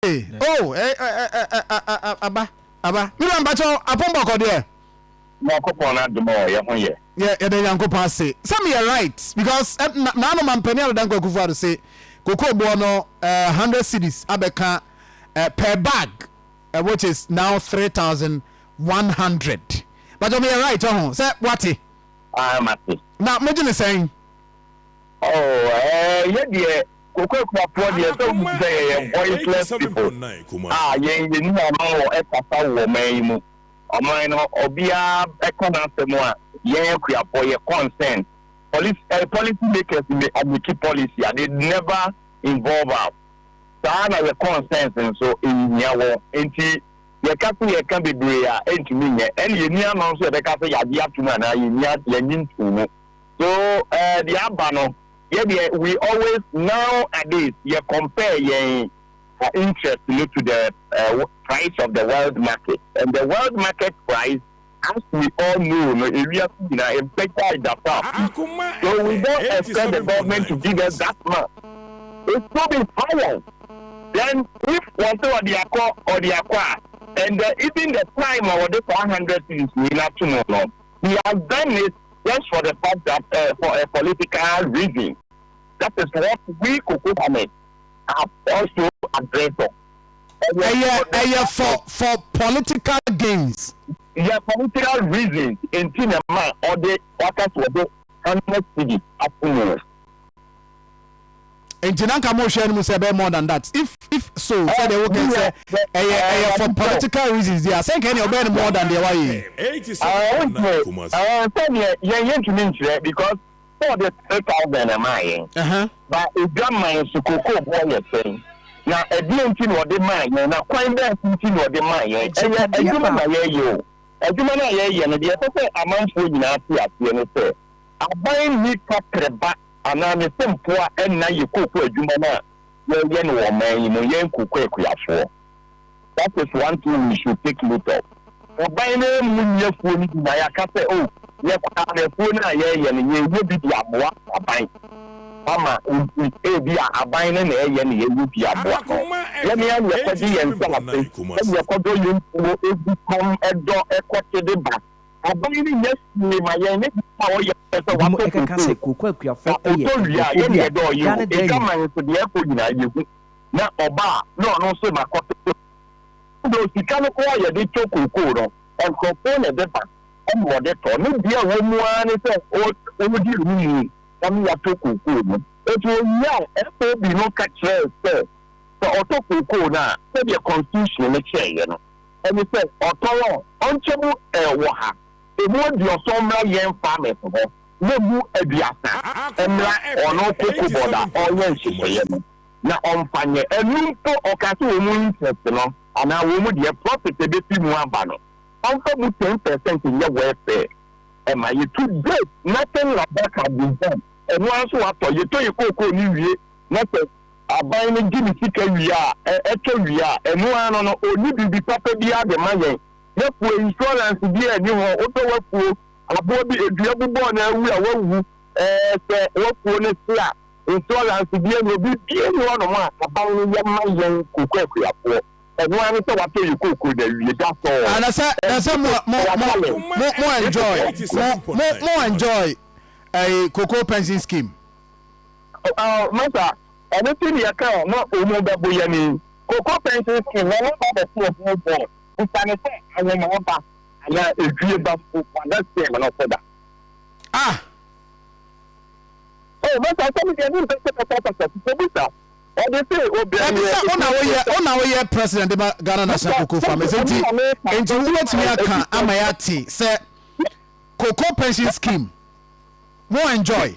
Oh, eh, eh, eh, eh, eh, ah, ah, ah, aba, aba. Me nua mpakyɛw, apon bɔkɔ deɛ. Nyankopɔn n'adom a ɔyɛ ho yɛ. Yɛ yɛda Nyankopɔn ase. Sɛ meyɛ right because eh, na naano mampanin Adedan Kwaku Fuado se kokoo boɔ no eh, hundred cedis abɛka eh, per bag eh, which is now three thousand one hundred. Mpakyɛw meyɛ right ɔho oh, sɛ wate. Ah, mate. Na mogye ne sɛn? Oh, eh, yɛ deɛ. Kokoa Akuafoɔ deɛ sɛ wohu te sɛ yɛyɛ voiceless people a yɛn yɛnim ano wɔ kasa wɔ ɔman yi mu. Ɔman no obiara bɛka n'asɛm a yɛn Akuafoɔ yɛ concerned. Policy eh, policy makers may make policy a they never involve us. Saa na yɛ concerns nso nhia wɔn. Enti yɛka sɛ yɛka bebree a ɛntumi nyɛ. Ɛne yɛnni ano nso yɛbɛka sɛ yɛagye atom anaa yɛnni, yɛnnye ntoo mu. So eh, deɛ aba no. Yɛ deɛ we always now a days yɛ compare yɛn interest no to the price of the world market and the world market price as we all know no ewiase nyinaa ɛbɛgyae da saa so we don't expect the government to give us that much it should be higher then if wɔse ɔde akɔ ɔde akɔ a and the even the time a wɔde saa hundred cedis wei no ato mu no He has done it just for the fact that eh, for a political reason. That is what we Kokohame have also addressed on. Ɛyɛ ɛyɛ for for political gains. Yɛ political reasons nti na ɛma ɔde waka sɛ ɔde hundred cedis ato mu. nti na nka mo hwɛ no mu sɛ ɛbɛyɛ more than that if if so sɛ deɛ wokɛ sɛ ɛyɛ ɛyɛ for political reasons deɛ asɛ nka ɛnea ɔbɛyɛ no more than deɛ wayɛ yi. sɛdeɛ yɛn yɛntumi nkyerɛ because sɛ ɔde three thousand na maa yɛn ba edwa man so koko boɔ yɛ sɛn na ɛdeɛ nti na ɔde maa yɛn na kwan bɛn nti na ɔde maa yɛn ɛyɛ adwuma na yɛyɛ o adwuma no a yɛyɛ no deɛ ɛsɛ sɛ amanfoɔ nyinaa te aseɛ no sɛ aban nni kaprɛba anaa ne sɛ mpoa nna yɛ kooko adwuma no a yɛyɛ no wɔ ɔman yi mu, yɛn kooko akuafoɔ. That is one thing we should take note of. Aban no ammu nni afuo no bi na yɛaka sɛ oh yɛ koraa no afuo no a yɛyɛ no yɛyɛ bi de aboa aban ama nti ebi a aban no na ɛyɛ na yɛyɛ bi aboa no. Yɛn ara na yɛkɔgye yɛn nsase na yɛkɔdɔ yɛn kuo gu fam dɔ kɔte de ba. Ɔbaa yi ne yɛ sie ma yɛn ne deɛ a ɔyɛ sɛ wɔatɔ kurokoɔ. Ebinom ɛkeka sɛ kurokoɔ akuafoɔ ɛyɛ nkurɔfoɔ bi a daa ne daa mu. Edwaman so deɛ ɛkɔ nyinaa yɛhu na ɔbaa na ɔno nso na kɔto so ɛnna osika no koraa a yɛde tɔ kurokoɔ no nkurɔfoɔ na ɛde ba ɛnna wɔde tɔ ne deɛ a ɛwɔ mu ara ne sɛ ɔredi animu ɛma yɛatɔ kurokoɔ no nti ɔwie a FOB no ka kyerɛɛ sɛ sɛ ɔtɔ kurokoɔ no a sɛdeɛ constitution no kyerɛeɛ no Ɛne sɛ, ɔtɔn a ɔnkyɛ mu wɔ ha, emu aduɔsɔn mmra yɛn farmers hɔ, na mu aduasa mmra ɔno cocobod a ɔreyɛ nhyehyɛeɛ no, na ɔmfa nyɛ. Ɛno mpo, ɔkaa sɛ wɔn interest no, anaa wɔn deɛ profit a ɛbɛfiri mu aba no, ɔmfa mu ten per cent nyɛ welfare mma yɛn. To date, nothing like that has been done. Ɛno ara nso watɔ, yɛtɔ yɛn cocoa no wie, na sɛ Aban no gye ne sika wie a, ɛ, ɛtɔ wie a, ɛno ara no no, ɔnni biribi papa biara de ma yɛn. N'afuo, insurance biara nni ho. Wodɔ w'afuo, aboɔ bi, dua bi bɔɔ no awu a, wawu. Ɛɛ, sɛ w'afuo no se a, insurance biara nni hɔ. Biribiara nni hɔnom a Aban no yɛ ma yɛn kooko akuafoɔ. Ɛno ara ne sɛ watɔ yɛn kooko na awie. That's all. Ah, na sɛ, na sɛ mo, mo, mo, mo, mo enjoy, mo, mo, mo enjoy, ɛɛ, Cocoa Pension Scheme. Ɔɔ masa ɔno ti deɛ kɛ na omo bɛ bo yɛne yi. Koko pɛntin skin na ne ba bɛte ɔbɔɔ bɔɔl bisa no sɛ awomaa ba anaa edwie ba mpo wada skin no so da. Ah! Oh masa sɛ me deɛ me mpɛ sɛ mɛkɔ akasa fi kɔ bisa ɔde se obia yɛ Ɛfisɛ wo na woyɛ wo na woyɛ president de ba Ghana National Cocoa Farmers nti nti wo bɛtumi aka ama yɛate sɛ Cocoa pension scheme mo enjoy.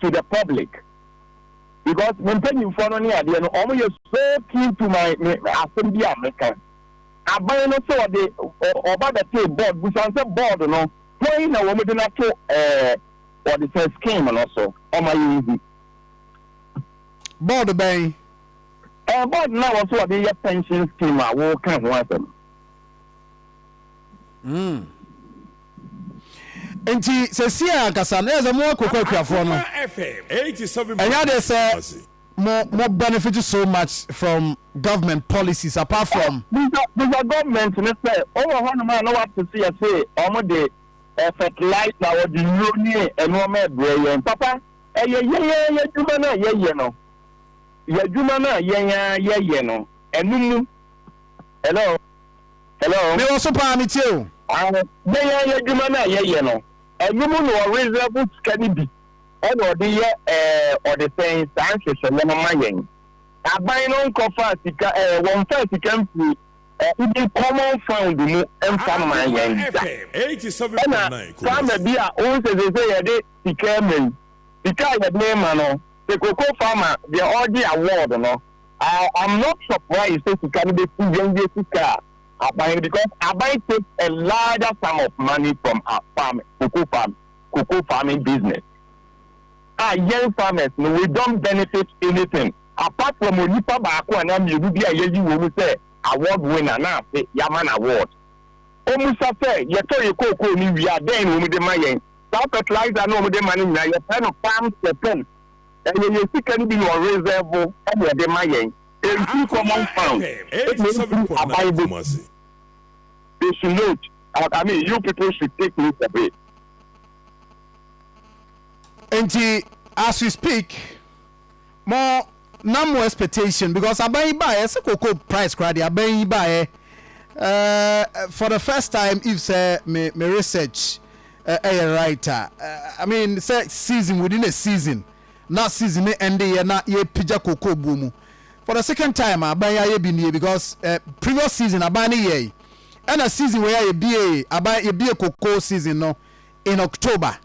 to the public because me mpanyinfoɔ no ne adeɛ no wɔn yɛ so keen to my me asɛm bi a meka aban no sɛ ɔde ɔba bɛtee board busan sɛ board no wɔn na wɔn de no ato ɛɛ ɔde sɛ scheme no so wɔn ayɛ ehu. board bɛn. ɛɛ board no a wɔso ɔde yɛ pension scheme a wɔka ho asɛm. Mm. Nti sɛsi a ankasa na yɛ sɛ mo akokɔ akuafoɔ no. Ɛnyɛ adeɛ sɛ mo mo benefit so much from government policies apart from. Bisa bisa government no sɛ ɔwɔ hɔnom a na wɔate se yɛse wɔn de eh, fertilizer, wɔde nnuro ne nnoɔma rebrɛ yɛn. Papa, ɛyɛ yɛn ara yɛn adwuma no a yɛyɛ no, yɛn adwuma no a yɛn ara yɛyɛ no, ɛno mu. Hello? Hello. Me wɔ so paa me tie o. Ae na yɛn yɛ adwuma no a yɛ yɛ no ɛno mu na ɔreserve sika no bi ɛna ɔde yɛ ɛɛ ɔde sɛn saa nhyehyɛeɛ no ma yɛn aban no nkɔ faa sika ɛɛ wɔn nfaa sika mfiri ɛɛ even common fund mu mfa mma yɛn da ɛna farmer bi a wohu sɛ sese yɛde sika ma yi sika a yɛde ma no sɛ koko farmer deɛ ɔregye award no I am not surprised sɛ sika no bɛsi yɛn yɛ sika a aban no because aban takes a larger sum of money from our farming, cocoa farming, cocoa farming business a yɛn farmers no we don't benefit anything apart from onipa baako anaa mmienu bi a yɛayi wɔn sɛ award winner na afe yɛama no award. Wɔmmisa sɛ yɛtɔ yɛn cocoa no wie a dɛn na wɔde ma yɛn? Saa fertilizer no a wɔde ma no nyinaa yɛfrɛ no farm support. Ɛyɛ yɛn sika no bi na ɔresɛɛvo na ɔde ma yɛn. Ɛmfiri common fund ɛna ɛmfiri aban bɔ mu. They should note, I mean you people should take note of it. Nti as we speak mo na mo expectation because aban yi baeɛ sɛ cocoa price koraa deɛ aban yi baeɛ eh, for the first time if sɛ me, me research Ɛyɛ right a I mean sɛ season within a season na season no ɛnde yɛ na yɛpagya cocoa buo mu for the second time a aban yi ayɛ bi nie because eh previous season aban no yɛɛe ɛna season wei a yɛbiee aban yɛbie cocoa season no in October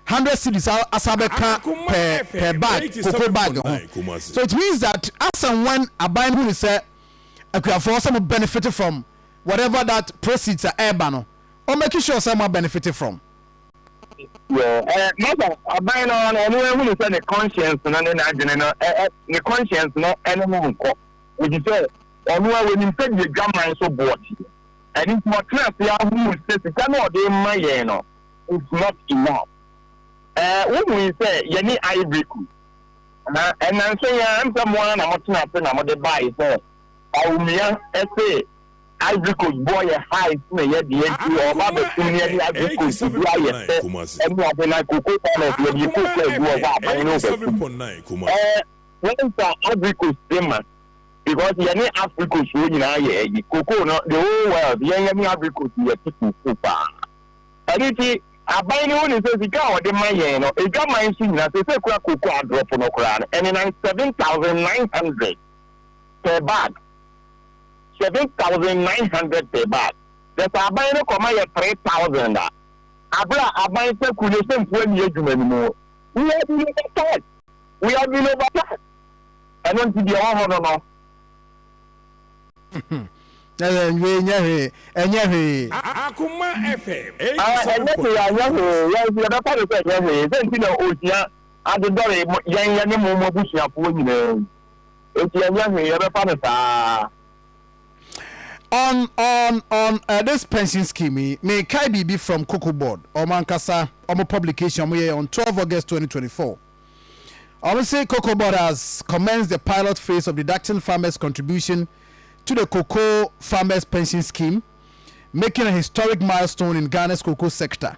hundred cedis asa bɛka per per bag cocoa bag ho so it means that as and when aban no hunu sɛ akuafoɔ sɛ mo benefit from whatever that proceeds a ɛɛba no ɔn make sure sɛ ɔma benefit from. Yeah eh mother aban no ara no ɔno ahunu sɛ ne conscience no ne n'adwene no eh eh ne conscience no ne no nkɔ efisɛ ɔno ara ɔnim sɛdeɛ adwaman so boɔ teɛ ɛno nti watena ase ahunu sɛ sika no a ɔde rema yɛn no it's not enough eh wohui sɛ yɛne Ivory Coast na ɛnanso yi ara ɛm sɛ mo ara na motena ase na mode bae sɛ Bawumia se Ivory Coast boɔ yɛ high nti na ɛyɛ deɛ nti wɔ ɔba bɛtum ne ɛne Ivory Coast ɛbi ayɛ pɛ ɛne ade na cocoa farmers yɛ deɛ cocoa agu wɔ hɔ a aban no bɛtum ɛɛ went a Ivory Coast de ma because yɛ ne Ivory Coast foɔ nyinaa yɛ ɛyi cocoa no the whole world yɛn yɛ ne Ivory Coast yɛ ti cocoa paa ɛne ti aban no wo ne sɛ sika a wɔde ma yɛn no ɛdwa man so nyinaa sɛ sɛ kura cocoa adrɔfo no koraa no ɛne nan seven thousand nine hundred per bag. seven thousand nine hundred per bag, na sɛ aban no kɔma yɛ three thousand a, bere a aban fekuw no sɛ mpo anni adwuma no mu. We have been overcharged, we have been overcharged, ɛno nti deɛ ɛwɔ hɔ no no. Na yɛnwe nyɛ hwee, ɛnyɛ hwee. Akoma FM eighty seven point two. Ɛnyɛ hwee, anyɛ hwee, yɛn nso yɛbɛfa no sɛ ɛnyɛ hwee, sɛ nti na ohia adedɔre yɛn yɛne mo mo abusuafoɔ nyinaa yi. Enti ɛnyɛ hwee, yɛbɛfa no saa. On on on uh, this pension scheme yi, mekae biribi from Cocoa Board, wɔn ankasa wɔn publication wɔn yɛɛ on 12 August 2024. Wɔn se Cocoa Board has commenced the pilot phase of deducting farmers' contribution to the Cocoa Farmers Pension Scheme, making a historic milestone in Ghana's cocoa sector.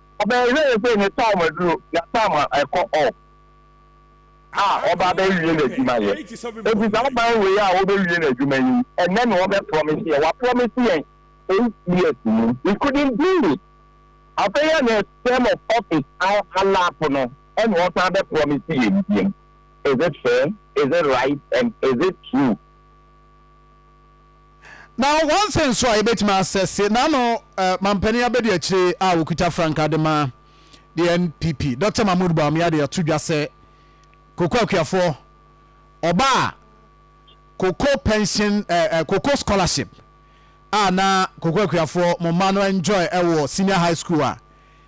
Ɔbɛyɛ yɛ yɛ sɛ ne time aduro na time a ɛkɔ off a ɔba abɛwie n'adwuma yɛ. Enti saa ban wei a ɔbɛwie n'adwuma yi ɛnɛ na ɔbɛ promise yɛ. Wa promise yɛn eight years ni. He couldn't do it. Afei ɛna term of office a alap no ɛna ɔsan abɛ promise yɛn biom. Is it fair? Is it right? And is it true? Na one thing nso a yɛbɛtumi asɛse n'ano eh, mampanin abɛdi akyire a wɔkuta frankaa de ma the NPP Dr Mahmood Bawumia de ato dwa sɛ koko akuafoɔ ɔba a koko pension eh, eh, koko scholarship a na koko akuafoɔ mo mma no enjoy ɛwɔ senior high school a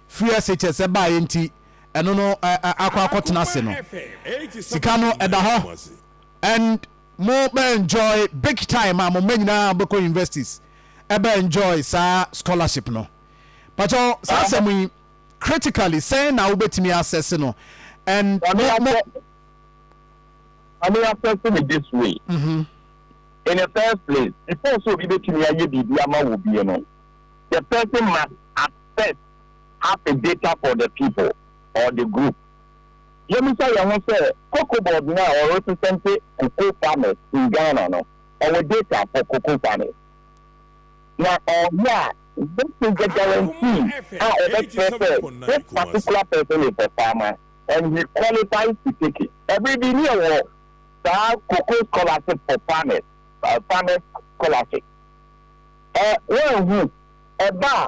free SHS ɛbaeɛ nti ɛno no eh, eh, akɔ akɔtena ase no sika no ɛda hɔ and Mo bɛ enjoy big time a mo mma nyinaa mo bɛkɔ universities ɛbɛ enjoy saa scholarship no. Pakyɛw saa asɛm yi critically sɛn na wobɛtumi assess no and mo mo. Mame assess no this way, in the first place before sɛ obi bɛtumi ayɛ biribi ama wo bie no the person must assess have a data for the people or the group. Yɛmmisa yɛn ho sɛ, Cocoa board no a wɔresesɛnte cocoa farmers in Ghana no, ɔwɔ data for cocoa farmers? Na ɔwɔ a, what is the guarantee a ɔbɛkyerɛ sɛ this particular person is a farmer and he qualifies to take it? Bere bi na yɛwɔ saa cocoa scholarship for farmers, farmers scholarship. Ɛ, woanhu? Ɛba a.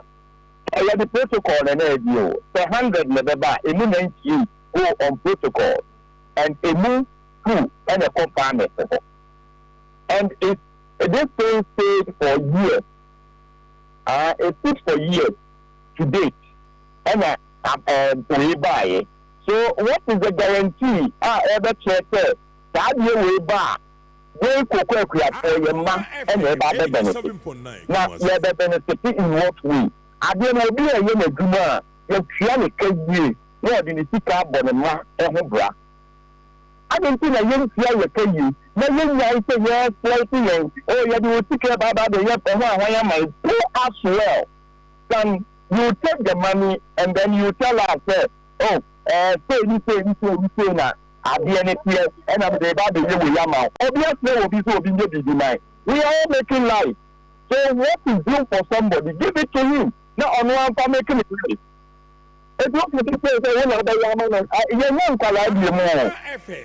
Sɛ yɛde protocol no na ɛdi o, sɛ hundred na ɛbɛba a, ɛmu ninety eight go on protocols and ɛmu two na ɛkɔ pharmacy hɔ and it's this thing stayed for years aa it stood for years to date ɛna ɛɛ wei baeɛ so what is the guarantee a ɛbɛkyerɛ sɛ saa adeɛ wei ba a Wei Koko Akuafoɔ yɛ mma na ɛba abɛbenefit na yɛbɛbenefite in what way? Adeɛ no obi reyɛ n'adwuma a yɛtua no ka yie na ɔde ne sika abɔ ne mma ho bra adɛn nti na yɛntua yɛ ka yie na yɛnyae sɛ yɛɛsplɔite yɛn oh yɛde wo sika ɛba aba abɛyɛ ɛho ahwan ama yɛ po as well than you take the money and then you tell us sɛ oh ɛɛ sei ne sei ne sei ne sei na Adeɛ no teɛ ɛna mede reba abɛyɛ wei ama wo. Obi asrɛ wɔ bi sɛ obi nyɛ biribi ma yɛn. We are all making life so what is due for somebody give it to him na ɔno ara mfa make ne life. Eti woka sɛ sei sɛ wo na wobɛyɛ ama no a yɛnyɛ nkwadaa bio mu oo.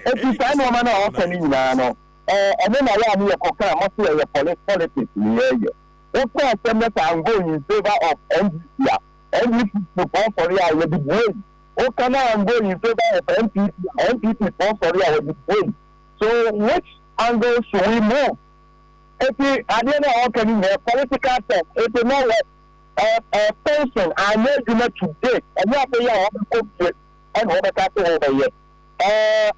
Eti saa nnoɔma no a woka no nyinaa no ɛno na ɛyɛ a ne yɛkɔ kaa mo se ɛyɛ poli politics ne yɛɛyɛ. Woka asɛm no sɛ I'm going in favour of NDC a, NDC fofoɔ fɔre a yɛde buei. Woka na Angoe in favor of NPP a NPP foɔ sɔre a wɔde buei so which angle should we move? Eti adeɛ no a wɔka no nyinaa political talk it will not work ɛɛ ɛɛ pension anyɛ adwuma to date ɛnyɛ afei a wɔbɛkɔ fie ɛna wɔbɛka se wɔbɛyɛ ɛɛ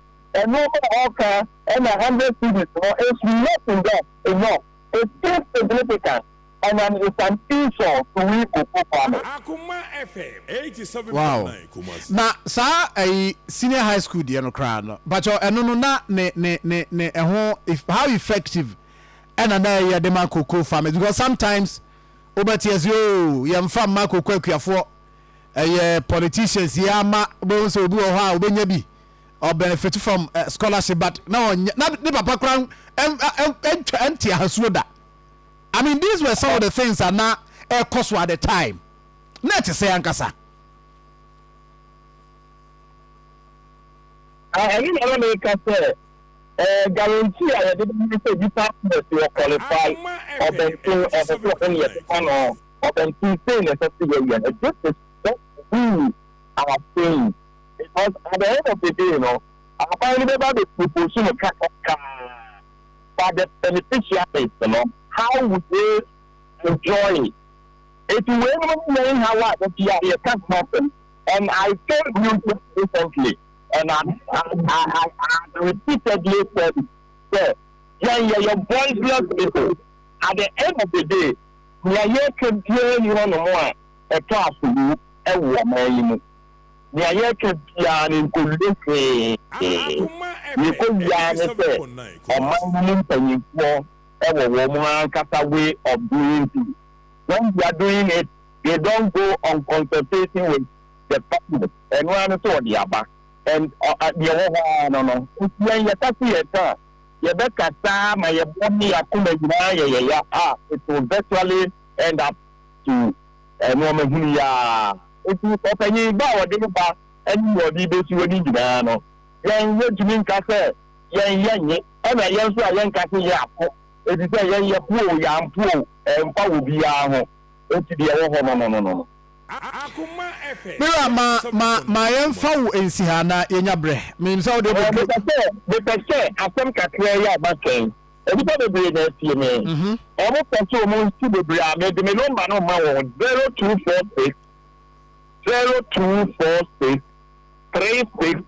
nnoɔma a wɔka ɛna hundred cedis no is nothing done enough it's insignificant. Ɔnam Esan Esau suwii koku kwa no. Wow na saa ɛyi senior high school deɛ no koraa no mpakyɛw ɛno no na ne ne ne ne ɛho how effective ɛna na ɛyɛ de ma koko farmers because sometimes wobɛte ɛsɛ oo yɛmfa mma koko akuafoɔ ɛyɛ politicians yɛ ama bɛhu sɛ obi wɔ hɔ a wobɛnya bi ɔbenefit from eh, scholarship but na ɔnyɛ na ne papa koraa ɛntwa ɛnte ahasuo da I mean these were some of the things a na ɛkɔ so at the time na ɛte sɛ ankasa. ɛno na na meka sɛ ɛɛ guarantee a yɛde bɛma sɛ nipa nurse wɔ qualify ɔbɛnten ɔbɛtɔ ho ne yɛbɛma no ɔbɛnten sei na ɛsɛ sɛ yɛyɛ no this is what we are saying because at the end of the day no aban no bɛba bɛ propose no kakrakaa. for the beneficiaries no how would they enjoy it eti wei nom ne yɛn haw a da biara yɛ ka ho asɛm and I told you just recently and I I I I repeatedly said it sɛ yɛn yɛ yɛ voiceless people at the end of the day nea yɛka biara ni hɔ nom a ɛtɔ aso wu ɛwɔ ɔman yi mu. nea yɛreka biara no nkowie hwee. Nea ɛkɔwie ara ne sɛ ɔman no mu mpanimfoɔ wɔ wɔn ankasa way of doing things. When they are doing it, they don't go on consultation with the farmers. Ɛno ara ne sɛ wɔde aba and deɛ ɛwɔ hɔ ara no no. Nti yɛn yɛka so yɛka a, yɛbɛka saa ma yɛn bo ne yɛn akoma nyinaa yɛ yɛya a, it will virtually end up to. Nnoɔma hunu yi ara nti ɔpanyin ba a wɔde no ba ne nea ɔde besi hɔ no nyinaa no, yɛn yɛntumi nka sɛ yɛn yɛ nye, ɛna yɛn nso a yɛnka se yɛn apo, efisɛ yɛn yɛpo o yɛampo o ɛmfa wɔ biara ho, enti deɛ ɛwɔ hɔ no no no. Mira, ma, ma, ma yɛmfa wo nsi ha na yɛnya berɛ. Menim sɛ wode abɛduru. Mepɛ sɛ, mepɛ sɛ asɛm kakraa yi a maka yi. Nnipa bebree na atie me. Wɔpɛ sɛ wɔnsi bebree a mede me nɔmba no rema wɔn, 0246 0246 36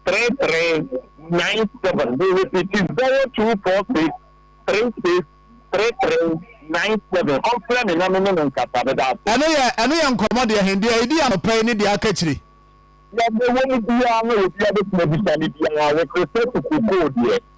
3397. Merepiti, 0246 36 3397. Ɔmfrɛ me na me ne no nkasa. Meda ase. Ɛno yɛ ɛno yɛ nkɔmmɔ deɛ he, deɛ ɛdi anɔpa yi ne deɛ aka akyire. Deɛ ɛwɔ mu biara no obiara bɛtumi abisa me biara, wo Kristofo kookoo deɛ.